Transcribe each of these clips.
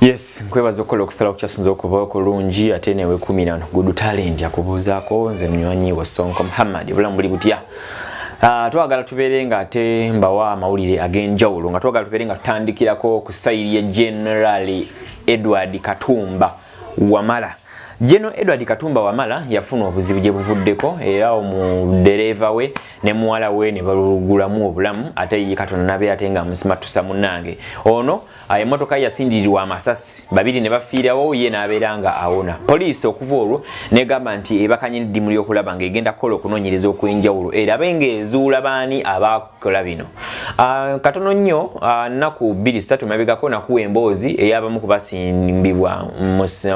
Yes, nkwebaza okukola okusala okukyasinza okuba okulungi ate newe kumirano gudu talent yakubuuzaako nze munywanyi wo Sonko Muhammad obulamu buli butya Uh, twagala tubeere nga ate mbawa amawulire ag'enjawulo nga twagala tubeere nga tutandikirako ku sayiri ya generali edward katumba wamala Jeno Edward Katumba Wamala yafuna obuzibu gye buvuddeko era omudereeva we ne muwala we ne balugulamu obulamu ate ye Katonda nabe ate nga amusimatusa munange ono ayo emotoka yasindirirwa amasasi babiri ne bafiirawo ye n'abeera nga awona poliisi okuva olwo negamba nti ebakanye n'eddimu ly'okulaba ng'egenda kukola okunoonyereza okw'enjawulo erabe ng'ezuula baani abaakola bino ah, katono nnyo ah, nnaku bbiri ssatu mabegako nakuwa emboozi ey'abamu ku basimbibwa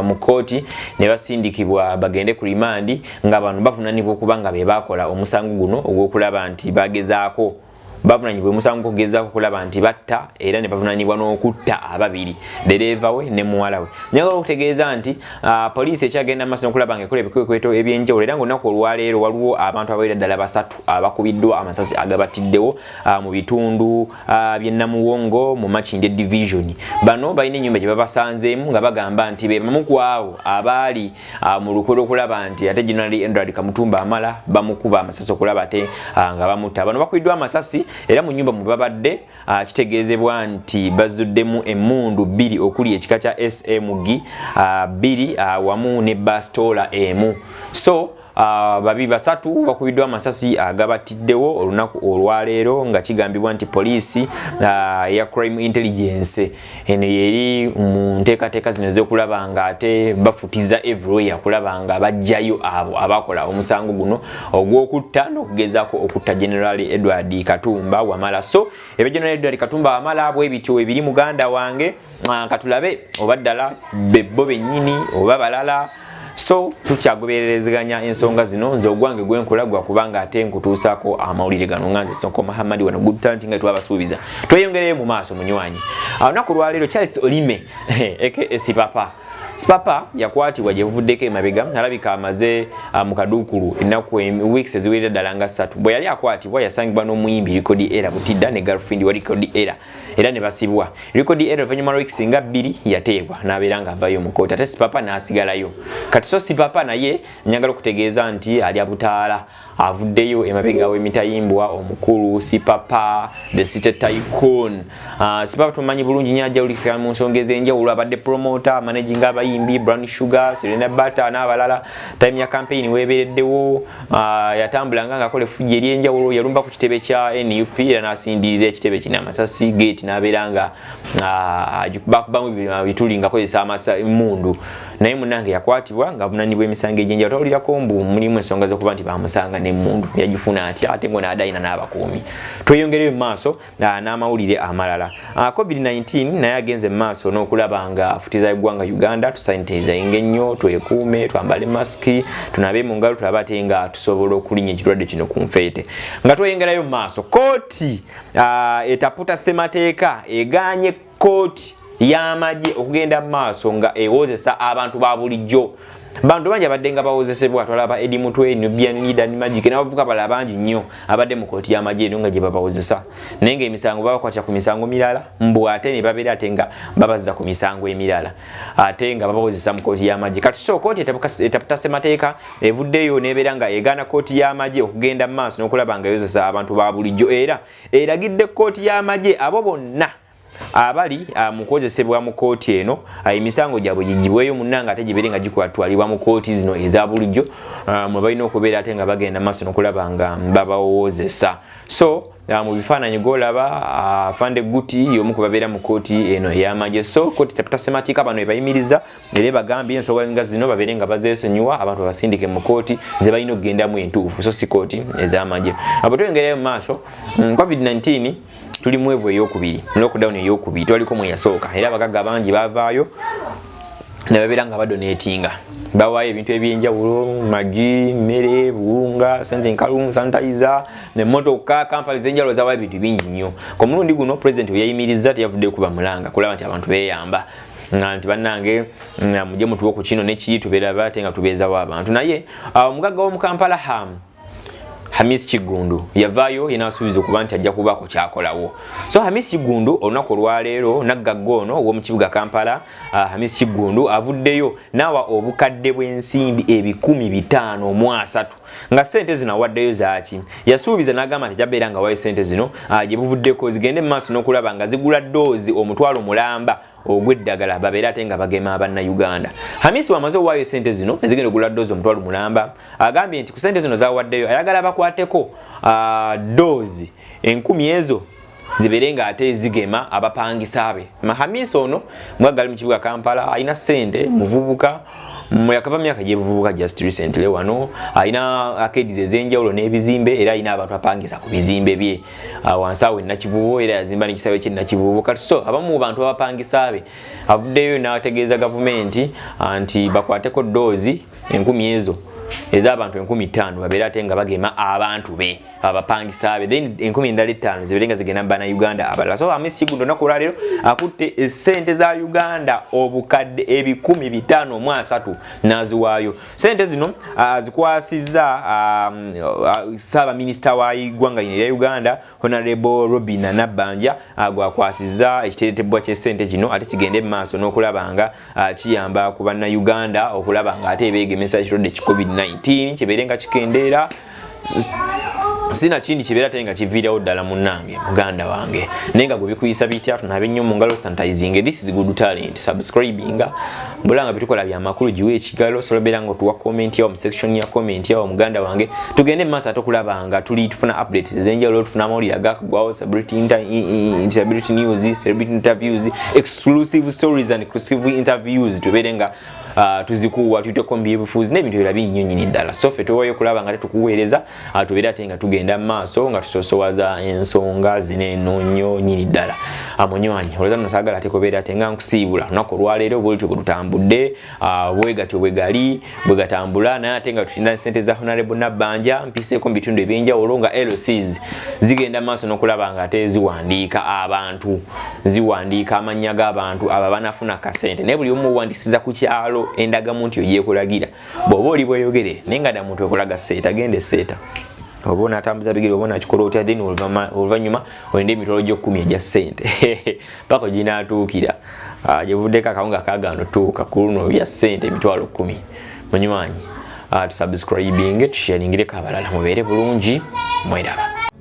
mu kkooti ne basindikibwa bagende ku limandi nga bano bavunanibwa okuba nga be baakola omusango guno ogw'okulaba nti bagezaako bavunanyibwa omusango kugezaako kulaba nti batta era ne bavunanyibwa n'okutta ababiri dereeva we ne muwala we nyagala okutegeeza nti ah, poliisi ekyagenda maaso nokulaba nga ekola ebikwekweto ebyenjawulo era ngaolunaku olwaleero waliwo abantu abaira ddala basatu abakubiddwa amasasi agabatiddewo ah, mu bitundu ah, bye namuwongo mu makinde division bano balina ennyumba gye babasanzeemu nga bagamba nti be bamu ku abo abaali Ah, mu lukwe lwokulaba nti ate generali endrad kamutumba amala bamukuba amasasi okulaba ate ah, nga bamutta bano bakubiddwa amasasi era mu nyumba mwebabadde ah, kitegeezebwa nti bazuddemu emundu bbiri okuli ekika kya smg bbiri wamu ne bastoola emu so Ah, babi basatu bakubiddwa amasasi agabattiddewo olunaku olwaleero nga kigambibwa nti poliisi ah, ya crime intelligence eno yeri mu nteekateeka zino ezokulaba nga ate bafutiza everywhere kulaba nga bajjayo abo abakola omusango guno ogw'okutta n'okugezaako okutta general edward katumba wamala so ebya general edward katumba wamala bwe bityo ebiri muganda wange ah, katulabe oba ddala bebbo bennyini oba balala so tukyagobererezeganya ensonga zino nze ogwange gwenkola gwa kubanga ate nkutuusaako amawulire gano nga nze sonko muhammadi wano good talent nga twabasuubiza tweyongereyo mu maaso munywanyi olunaku lwaleero charles olime aka sipapa sipapa yakwatibwa gyebuvuddeko emabega alabika amaze ah, mu kaduukulu ennaku weeks eziwerera ddala nga ssatu bwe yali akwatibwa yasangibwa n'omuyimbi rikodi era butidda ne girlfriend wa rikodi era era ne basibwa likodi era oluvannyuma lwa wiiki nga bbiri yateebwa n'abeera nga avayo mu kooti ate sipapa n'asigalayo kati so sipapa naye njagala okutegeeza nti ali abutaala avuddeyo emabega w'emitayimbwa omukulu sipapa the city tycoon uh, sipapa tumanyi bulungi nyo ajja ulikisana mu nsonga ez'enjawulo abadde promota managing abayimbi brown sugar serena bata n'abalala time ya campaign weebereddewo Ah, yatambula nga ngakola efujja eryenjawulo yalumba ku kitebe kya nup era nasindirira ekitebe kino amasasi gate nabeera nga ah, bakubamu bituli nga kozesa emundu naye munange yakwatibwa nga avunanibwa emisango egyenjawulo tawulirako mbu mulimu ensonga zokuba nti bamusanga nemundu yagifuna atya ate ngo nadayina n'abakuumi tweyongereyo mu maaso Ah, n'amawulire amalala ah, covid-19 naye agenze mu maaso n'okulaba nga afutiza eggwanga uganda tusanitaizayinga ennyo twekuume twambale masiki tunabe mu ngalo tulaba ate nga tusobola okulinya ekirwadde kino ku nfeete nga tweyongerayo mu maaso kooti ah, etaputa ssemateeka eganye kooti y'amagye okugenda mu maaso nga ewozesa abantu ba bulijjo bantu bangi abadde nga bawozesebwa twalaba edi mutwe nubianidan magic nabavuka bala bangi nnyo abadde mu kooti y'amagye eno nga gye babawozesa naye nga emisango babakwatya ku misango mirala mbu ate ne babeera ate nga babazza ku misango emirala ate nga babawozesa mu kooti y'amagye kati so kooti etaputa ssemateeka evuddeyo nebeera nga egaana kooti y'amagye okugenda mu maaso n'okulaba nga yozesa abantu ba bulijjo era eragidde kkooti y'amagye abo bonna abali ah, mukozesebwa mu kooti eno ah, emisango gyabwe gigibweyo munanga ate gibere nga gikwatwalibwa mu kooti zino eza bulijjo ah, mwe balina okubeera ate nga bagenda maaso nokulaba nga babawozesa so mu bifaananyi golaba afande guti yomu kubabeera mu kooti eno eyamagye so kooti tatasemateeka bano ebayimiriza era ebagambye ensonga nga zino babeere nga bazesonyiwa abantu babasindike mu kooti zebalina okugendamu entuufu so si kooti ezamagye abo tweyongerayo mu maaso mm, covid-19 tuli mwevu eyokubiri lockdown eyokubiri twaliko mweyasooka era abagagga bangi bavaayo nebabeera nga badonatinga bawaayo ebintu ebyenjawulo magi mmere buwunga sente nkalungu sanitayiza nemotoka kampani zenjawulo zawaayo ebintu bingi nnyo ku mulundi guno pulezidenti weyayimirizza teyavudde kuba mulanga kulaba nti abantu beyamba nga nti bannange nga mujje mutuwe ku kino nekiyi tubeeraba ate nga tubeezawo abantu naye ah, omugagga w'omu kampala hamu hamis kiggundu yavaayo yena asuubiza okuba nti ajja kubaako kyakolawo so hamis kiggundu olunaku olwaleero naggagga ono ow'omukibuga kampala ah, hamis kiggundu avuddeyo naawa obukadde bw'ensimbi ebikumi bitaano mu asatu nga sente zino awaddeyo zaaki yasuubiza n'agamba nti jabeera nga wayo sente zino ah, gye buvuddeko zigende mu maaso n'okulaba nga zigula doozi omutwalo mulamba ogw'eddagala babeere ate nga bagema abanna uganda hamisi wamaze owaayo sente zino ezigenda ogula doozi omutwalo mulamba agambye nti ku sente zino zawaddeyo ayagala bakwateko ah, doozi enkumi ezo zibeere nga ate zigema abapangisa be mahamisa ono mwagali mu kibuga kampala alina sente muvubuka yakava myaka gyebuvubuka just recently wano alina akediza ezenjawulo n'ebizimbe era alina abantu apangisa ku bizimbe bye ah, wansi awo enakivubo era yazimba nekisawe kyenakivubo kati so abamu bantu abapangisa be avuddeyo n'ategeeza gavumenti ah, nti bakwateko doozi enkumi ezo ez'abantu enkumi ttaano babeera ate nga bagema abantu be abapangisa be then enkumi endala ettaano zibeere nga zigenda mu bannayuganda abalala so amisi guno olunaku olwaleero akutte esente za uganda obukadde ebikumi bitaano mu asatu n'aziwaayo sente zino azikwasizza ssaabaminisita wa igwanga lino erya uganda honorable robina nabbanja gwakwasizza ekiteretebwa ky'esente kino ate kigende mu maaso n'okulaba nga kiyamba ku bannayuganda okulaba nga ate beegemesa ekirwadde ki covid-19 kibeere nga kikendeera sina kindi kibeera taye nga kiviirawo ddala munnange muganda wange naye nga gwe bikuyisa bitya tunaabe nnyo mu ngalo sanitizinge this is good talent subscribinga mbula nga bitukola byamakulu giwe ekigalo solobeera nga otuwa komenti yawo mu section ya komenti yawo muganda wange tugende mu maaso ate okulabanga tuli tufuna updates ezenjawulo tufuna amawulire agakugwawo celebrity news celebrity interviews exclusive stories and exclusive interviews tubeere nga Ah, tuzikuwa tuteko mbyebufuzi n'ebintu ebirala binnyo nyini ddala so ffe tuwayo okulaba nga tetukuweereza ah, tubeere ate nga tugenda mu maaso nga tusosowaza ensonga zino eno nnyo nyini ddala ah, munywanyi olwoza no saagala ate kubeera ate nga nkusiibula lunaku olwaleero bwolutyo bwe lutambudde bwe gatyo bwe gali bwe gatambula naye ate nga tutinda ssente za honarebo nabbanja mpiseeko mu bitundu eby'enjawulo nga lcs zigenda maaso n'okulaba nga ate ziwandiika abantu ziwandiika amannya g'abantu abo abanafuna kasente naye buli omu owandisiza ku kyalo endagamu nti ogyekulagira bw'oba oli bweyogere naye nga damuntu ekulaga seeta genda eseeta oba onatambuza bigere oba onakikola otya then oluvannyuma olinde emitwalo gy'okkumi egya ssente paka oginatuukira ah, gyebuvuddeko akawunga kagaana otuuka ku luno bya ssente emitwalo kkumi munywanyi ah, tusubscribinge tusharingireko abalala mubeere bulungi mweraba